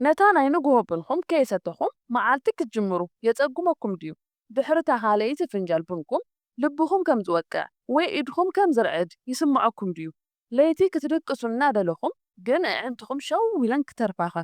ነታ ናይ ንግሆ ቡንኩም ከየሰተኹም መዓልቲ ክትጅምሩ የጸግመኩም ድዩ? ድሕሪ'ታ ካልኣይቲ ፍንጃል ቡንኩም ልብኹም ከም ዝወቅዕ ወይ ኢድኹም ከም ዝርዕድ ይስምዐኩም ድዩ? ለይቲ ክትድቅሱ እናደለኹም ግን ኣዒንትኹም ሸው ኢለን ክተርፋኸ?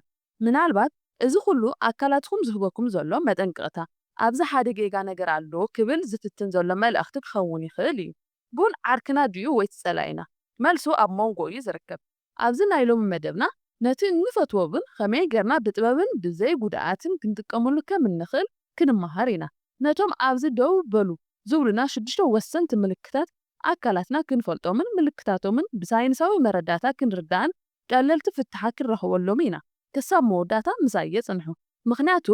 ምናልባት እዚ ኹሉ ኣካላትኩም ዝህበኩም ዘሎ መጠንቀቕታ፣ ኣብዚ ሓደ ጌጋ ነገር ኣሎ ክብል ዝፍትን ዘሎ መልእኽቲ ክኸውን ይኽእል እዩ። ቡን ዓርክና ድዩ ወይስ ጸላኢና? መልሱ ኣብ ሞንጎ እዩ ዝርከብ። ኣብዚ ናይ ሎሚ መደብና ነቲ እንፈትዎ ቡን ኸመይ ጌርና ብጥበብን ብዘይ ጉድኣትን ክንጥቀመሉ ከም እንኽእል ክንመሃር ኢና። ነቶም ኣብዚ ደው በሉ ዝብሉና ሽዱሽተ ወሰንቲ ምልክታት ኣካላትና ክንፈልጦምን ምልክታቶምን ብሳይንሳዊ መረዳእታ ክንርዳእን ቀለልቲ ፍታሓት ክንረኽበሎምን ኢና። ክሳብ መወዳእታ ምሳይ የጽንሑ ምኽንያቱ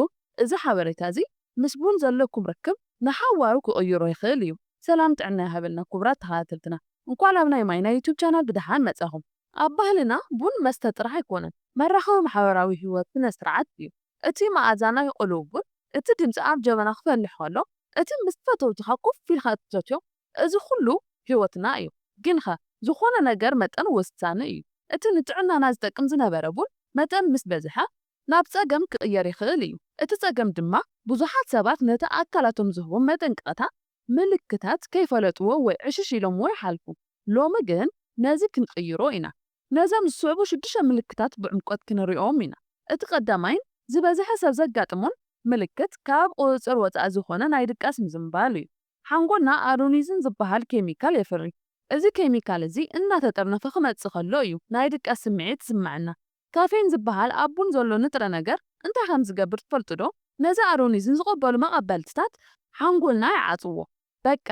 እዚ ሓበሬታ እዚ ምስ ቡን ዘለኩም ርክብ ንሓዋሩ ክቕይሮ ይኽእል እዩ። ሰላም ጥዕና ይሃበልና ኩቡራት ተኻታተልትና እንኳዕ ላብ ናይ ማይ ናይ ዩቱብ ቻናል ብደሓን መጻኹም። ኣብ ባህልና ቡን መስተ ጥራሕ ኣይኮነን መራኸቢ ማሕበራዊ ሂወት ስነ ስርዓት እዩ። እቲ መኣዛ ናይ ቕሉው ቡን እቲ ድምጺ ኣብ ጀበና ክፈልሕ ከሎ እቲ ምስ ፈተውትኻ ኮፍ ኢልካ እትሰትዮ እዚ ኩሉ ሕይወትና እዩ። ግንኸ ዝኾነ ነገር መጠን ወሳኒ እዩ። እቲ ንጥዕናና ዝጠቅም ዝነበረ ቡን መጠን ምስ በዝሐ ናብ ጸገም ክቕየር ይኽእል እዩ። እቲ ጸገም ድማ ብዙሓት ሰባት ነቲ ኣካላቶም ዝህቦም መጠንቀቕታ ምልክታት ከይፈለጥዎ ወይ ዕሽሽ ኢሎምዎ ይሓልፉ። ሎሚ ግን ነዚ ክንቕይሮ ኢና። ነዘም ዝስዕቡ ሽዱሽተ ምልክታት ብዕምቆት ክንሪኦም ኢና። እቲ ቀዳማይን ዝበዝሐ ሰብ ዘጋጥሞን ምልክት ካብ ቁጽጽር ወጻኢ ዝኾነ ናይ ድቃስ ምዝንባል እዩ። ሓንጎልና ኣዶኒዚን ዝበሃል ኬሚካል የፍሪ። እዚ ኬሚካል እዚ እናተጠርነፈ ክመጽእ ከሎ እዩ ናይ ድቃስ ስምዒት ዝስመዐና። ካፌን ዝበሃል ኣብ ቡን ዘሎ ንጥረ ነገር እንታይ ከም ዝገብር ትፈልጡዶ? ነዚ ኣዶኒዚን ዝቕበሉ መቐበልትታት ሓንጎልና ይዓጽዎ። በቃ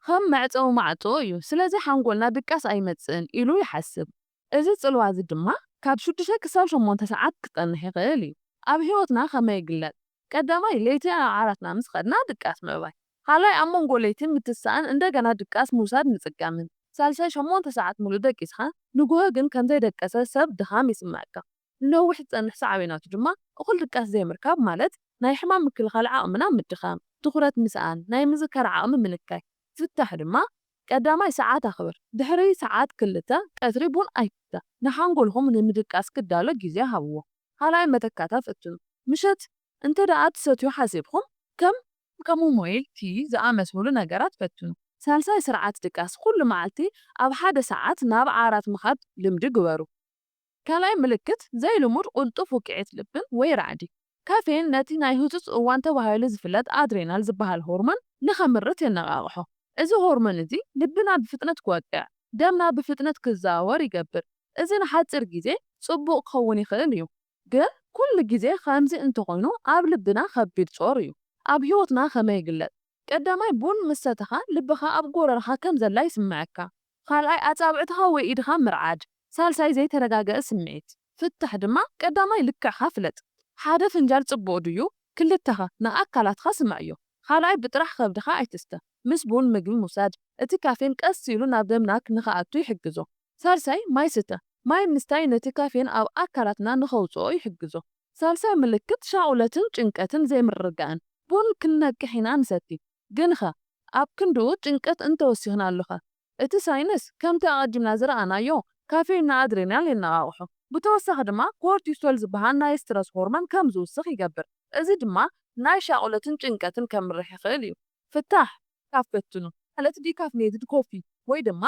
ከም መዕጸዊ ማዕጾ እዩ። ስለዚ ሓንጎልና ድቃስ ኣይመጽእን ኢሉ ይሓስብ። እዚ ጽልዋ እዚ ድማ ካብ ሽዱሽተ ክሳብ ሸሞንተ ሰዓት ክጸንሕ ይኽእል እዩ። ኣብ ህይወትና ከመይ ይግለጽ? ቀዳማይ፣ ለይቲ ናብ ዓራትና ምስ ኸድና ድቃስ ምዕባይ። ካልኣይ፣ ኣብ መንጎ ለይቲ ምትሳእን እንደገና ድቃስ ምውሳድ ምጽጋምን። ሳልሳይ፣ ሸሞንተ ሰዓት ምሉእ ደቂስካ ንግሆ ግን ከም ዘይደቀሰ ሰብ ድኻም ይስምዐካ። ንነዊሕ ዝጸንሕ ሳዕቤናቱ ድማ እኹል ድቃስ ዘይምርካብ ማለት ናይ ሕማም ምክልኻል ዓቕምና ምድኻም፣ ትኹረት ምስኣን፣ ናይ ምዝካር ዓቕሚ ምንካይ። ፍታሕ ድማ ቀዳማይ ሰዓት ኣኽብር፣ ድሕሪ ሰዓት ክልተ ቀትሪ ቡን ኣይትስተ፣ ንሓንጎልኩም ንምድቃስ ክዳሎ ግዜ ሃብዎ። ካልኣይ መተካእታ ፈትኑ፣ ምሸት እንተድኣ ትሰትዩ ሓሲብኩም ከም። ከም ሞይል ቲይ ዝኣመሰሉ ነገራት ፈትኑ። ሳልሳይ ስርዓት ድቃስ፣ ኩሉ መዓልቲ ኣብ ሓደ ሰዓት ናብ ዓራት ምኻድ ልምዲ ግበሩ። ካልኣይ ምልክት ዘይልሙድ ቕልጡፍ ውቅዒት ልብን ወይ ራዕዲ። ካፌን ነቲ ናይ ህጹጽ እዋን ተባሂሉ ዝፍለጥ ኣድሬናል ዝበሃል ሆርሞን ንኸምርት የነቓቕሖ። እዚ ሆርሞን እዚ ልብና ብፍጥነት ክወቅዕ፣ ደምና ብፍጥነት ክዘዋወር ይገብር። እዚ ንሓጺር ግዜ ጽቡቕ ክኸውን ይኽእል እዩ። ግን ኩሉ ግዜ ከምዚ እንተኾይኑ ኣብ ልብና ከቢድ ጾር እዩ። ኣብ ህይወትና ከመይ ይግለጽ? ቀዳማይ ቡን ምስ ሰተኻ ልብኻ ኣብ ጎረርኻ ከም ዘላ ይስመዐካ። ካልኣይ ኣጻብዕትኻ ወይ ኢድኻ ምርዓድ። ሳልሳይ ዘይተረጋገኣ ስምዒት። ፍታሕ ድማ ቀዳማይ ልክዕካ ፍለጥ። ሓደ ፍንጃል ጽቡቕ ድዩ? ክልተኸ? ንኣካላትካ ስምዕዮ። ካልኣይ ብጥራሕ ከብድኻ ኣይትስተ። ምስ ቡን ምግቢ ምውሳድ። እቲ ካፌን ቀስ ኢሉ ናብ ደምና ንክኣቱ ይሕግዞ። ሳልሳይ ማይ ስተ። ማይ ምስታይ ነቲ ካፌን ኣብ ኣካላትና ንከውጽኦ ይሕግዞ። ሳልሳይ ምልክት ሻቑለትን ጭንቀትን ዘይምርግጋእን። ቡን ክንነቅሕ ኢና ንሰቲ። ግንኸ ኣብ ክንድኡ ጭንቀት እንተወሲኽናሉኸ? እቲ ሳይንስ ከምቲ ኣቐዲምና ዝረኣናዮ ካፌይን ንኣድሬናል የነቓቕሖ፣ ብተወሳኺ ድማ ኮርቲሶል ዝበሃል ናይ ስትረስ ሆርሞን ከም ዝውስኽ ይገብር፣ እዚ ድማ ናይ ሻቕሎትን ጭንቀትን ከምርሕ ይኽእል እዩ። ፍታሕ፣ ካብ ፈትኑ ማለት ዲካፍኔትድ ኮፊ ወይ ድማ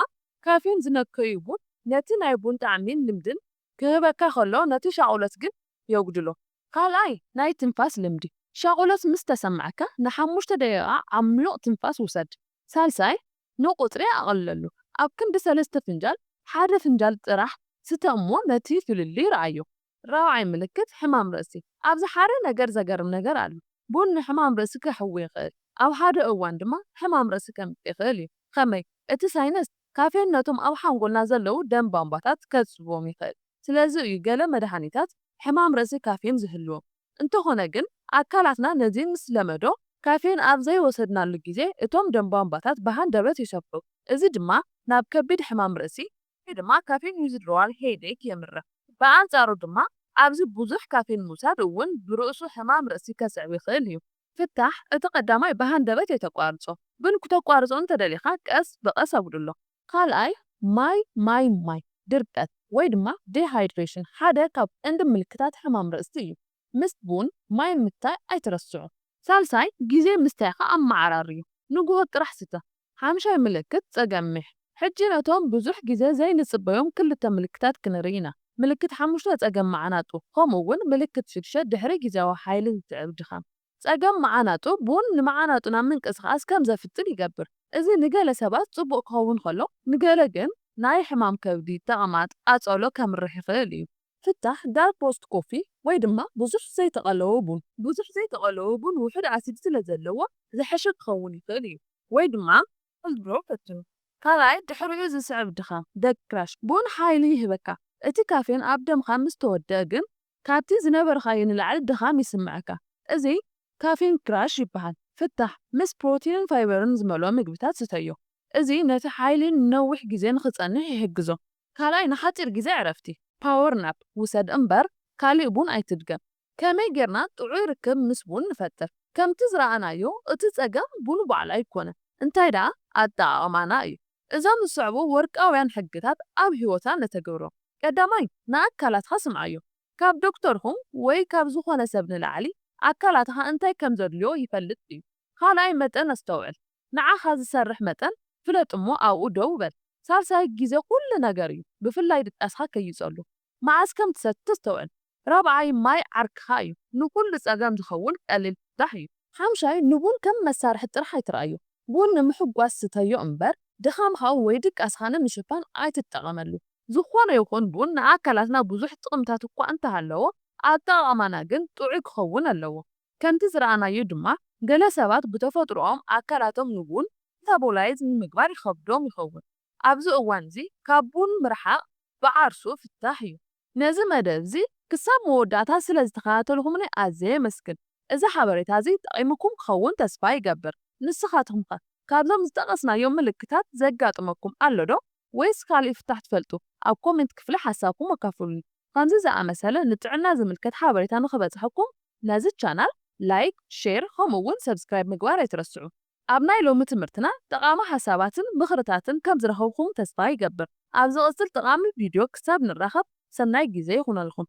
ካፌይን ዝነከዩ ቡን ነቲ ናይ ቡን ጣዕሚን ልምድን ክህበካ ከሎ ነቲ ሻቑሎት ግን የጉድሎ። ካልኣይ፣ ናይ ትንፋስ ልምዲ፣ ሻቑሎት ምስ ተሰምዓካ ንሓሙሽተ ደቂቓ ዓሚቕ ትንፋስ ውሰድ። ሳልሳይ፣ ንቑጽሪ ኣቕልለሉ፣ ኣብ ክንዲ ሰለስተ ፍንጃል ሓደ ፍንጃል ጥራሕ ስተ እሞ ነቲ ፍልልይ ርኣዮ። ራብዓይ፣ ምልክት ሕማም ርእሲ፣ ኣብዚ ሓደ ነገር ዘገርም ነገር ኣሎ፣ ቡን ንሕማም ርእሲ ከሕዊ ይኽእል፣ ኣብ ሓደ እዋን ድማ ሕማም ርእሲ ከምጽእ ይኽእል እዩ። ኸመይ? እቲ ሳይነስ ካፌን ነቶም ኣብ ሓንጎልና ዘለዉ ደም ባምባታት ከጽብቦም ይኽእል። ስለዚ እዩ ገለ መድሃኒታት ሕማም ርእሲ ካፌን ዝህልዎም። እንተኾነ ግን ኣካላትና ነዚ ምስ ለመዶ፣ ካፌን ኣብ ዘይወሰድናሉ ግዜ እቶም ደም ባምባታት ብሃንደበት ይሰፍሑ፣ እዚ ድማ ናብ ከቢድ ሕማም ርእሲ፣ ወይ ድማ ካፌን ዊዝድሮዋል ሄይዴክ፣ የምርሕ። ብኣንጻሩ ድማ ኣብዚ ብዙሕ ካፌን ምውሳድ እውን ብርእሱ ሕማም ርእሲ ከስዕብ ይኽእል እዩ። ፍታሕ፣ እቲ ቀዳማይ ብሃንደበት ኣይተቋርጾ፣ ግን ኩተቋርጾ እንተ ደሊኻ ቀስ ብቐስ ኣጉድሎ። ካልኣይ፣ ማይ ማይ ማይ፣ ድርቀት ወይ ድማ ዲሃይድሬሽን ሓደ ካብ ቀንዲ ምልክታት ሕማም ርእሲ እዩ። ምስ ቡን ማይ ምታይ ኣይትረስዑ። ሳልሳይ፣ ግዜ ምስታይካ ኣመዓራርዩ፣ ንጉሆ ጥራሕ ስተ፣ ሓምሻይ ምልክት ጸገም ሚሕ። ሕጂ ነቶም ብዙሕ ግዜ ዘይንጽበዮም ክልተ ምልክታት ክንርኢ ኢና፣ ምልክት ሓሙሽተ ጸገም መዓናጡ፣ ከምኡ ውን ምልክት ሽዱሽተ ድሕሪ ግዝያዊ ሓይሊ ዝስዕብ ድኻም። ጸገም መዓናጡ ቡን ንመዓናጡና ምንቅስቓስ ከም ዘፍጽም ይገብር፣ እዚ ንገለ ሰባት ጽቡቕ ክኸውን ከሎ ንገለ ግን ናይ ሕማም ከብዲ፣ ተቕማጥ፣ ቃጸሎ ከምርሕ ይኽእል እዩ። ፍታሕ፣ ዳርክ ሮስት ኮፊ ወይ ድማ ብዙሕ ዘይተቐለወ ቡን። ብዙሕ ዘይተቐለወ ቡን ውሑድ ኣሲድ ስለ ዘለዎ ዝሐሸ ክኸውን ይኽእል እዩ። ወይ ድማ ኮልድ ብረው ፈትኑ። ካልኣይ፣ ድሕሪኡ ዝስዕብ ድኻም፣ ደግ ክራሽ፣ ቡን ሓይሊ ይህበካ። እቲ ካፌን ኣብ ደምካ ምስ ተወደኣ ግን ካብቲ ዝነበርካዮ ንላዕሊ ድኻም ይስምዐካ። እዚ ካፌን ክራሽ ይበሃል። ፍታሕ፣ ምስ ፕሮቲንን ፋይበርን ዝመልኦ ምግብታት ስተዮ። እዚ ነቲ ሓይሊ ንነዊሕ ግዜ ንኽጸንሕ ይሕግዞ። ካልኣይ ንሓጺር ግዜ ዕረፍቲ፣ Power Nap፣ ውሰድ እምበር ካሊእ ቡን ኣይትድገም። ከመይ ጌርና ጥዑይ ርክብ ምስ ቡን ንፈጥር? ከምቲ ዝረኣናዮ እቲ ጸገም ቡን ባዕሉ ኣይኮነን፣ እንታይ ደኣ ኣጠቓቕማና እዩ። እዞም ዝስዕቡ ወርቃውያን ሕግታት ኣብ ህይወትና ነተግብሮም። ቀዳማይ፣ ንኣካላትካ ስምዓዮ። ካብ ዶክተርኩም ወይ ካብ ዝኾነ ሰብ ንላዕሊ ኣካላትካ እንታይ ከም ዘድልዮ ይፈልጥ እዩ። ካልኣይ፣ መጠን ኣስተውዕል። ንዓኻ ዝሰርሕ መጠን ፍለጥ እሞ ኣብኡ ደው በል። ሳልሳይ፣ ግዜ ኩሉ ነገር እዩ፣ ብፍላይ ድቃስካ ከይጸሉ። መዓስ ከም ትሰቲ ኣስተውዕል። ራብዓይ፣ ማይ ዓርክኻ እዩ፣ ንኹሉ ጸገም ዝኸውን ቀሊል ፍታሕ እዩ። ሓምሻይ፣ ንቡን ከም መሳርሒ ጥራሕ ኣይትርኣዮ። ቡን ንምሕጓስ ስተዮ እምበር፣ ድኻምካ ወይ ድቃስካ ንምሽፋን ኣይትጠቐመሉ። ዝኾነ ይኹን ቡን ንኣካላትና ብዙሕ ጥቕምታት እኳ እንተሃለዎ፣ ኣጠቓቕማና ግን ጥዑይ ክኸውን ኣለዎ። ከምቲ ዝረኣናዮ ድማ ገለ ሰባት ብተፈጥሮኦም ኣካላቶም ንቡን፣ መታቦላይዝ፣ ንምግባር ይኸብዶም ይኸውን። ኣብዚ እዋንዚ ካብ ቡን ምርሓቕ ብዓርሱ ፍታሕ እዩ። ነዚ መደብዚ ክሳብ መወዳእታ ስለ ዝተኸታተልኩምኒ ኣዝየ የመስግን። እዚ ሓበሬታዚ ጠቒሙኩም ክኸውን ተስፋ ይገብር። ንስኻትኩምኸ ካብዞም ዝጠቐስናዮም ምልክታት ዘጋጥመኩም ኣሎዶ ወይስ ካልእ ፍታሕ ትፈልጡ? ኣብ ኮሜንት ክፍሊ ሓሳብኩም ኣካፍሉኒ። ኸምዚ ዝኣመሰለ ንጥዕና ዝምልከት ሓበሬታ ንኽበጽሐኩም ነዚ ቻናል ላይክ ሼር ኸምኡ ውን ሰብስክራይብ ምግባር ኣይትረስዑ። ኣብ ናይ ሎሚ ትምህርትና ጠቓሚ ሓሳባትን ምኽርታትን ከም ዝረኸብኹም ተስፋ ይገብር። ኣብ ዝቕጽል ጠቓሚ ቪድዮ ክሳብ ንራኸብ ሰናይ ግዜ ይኹነልኹም።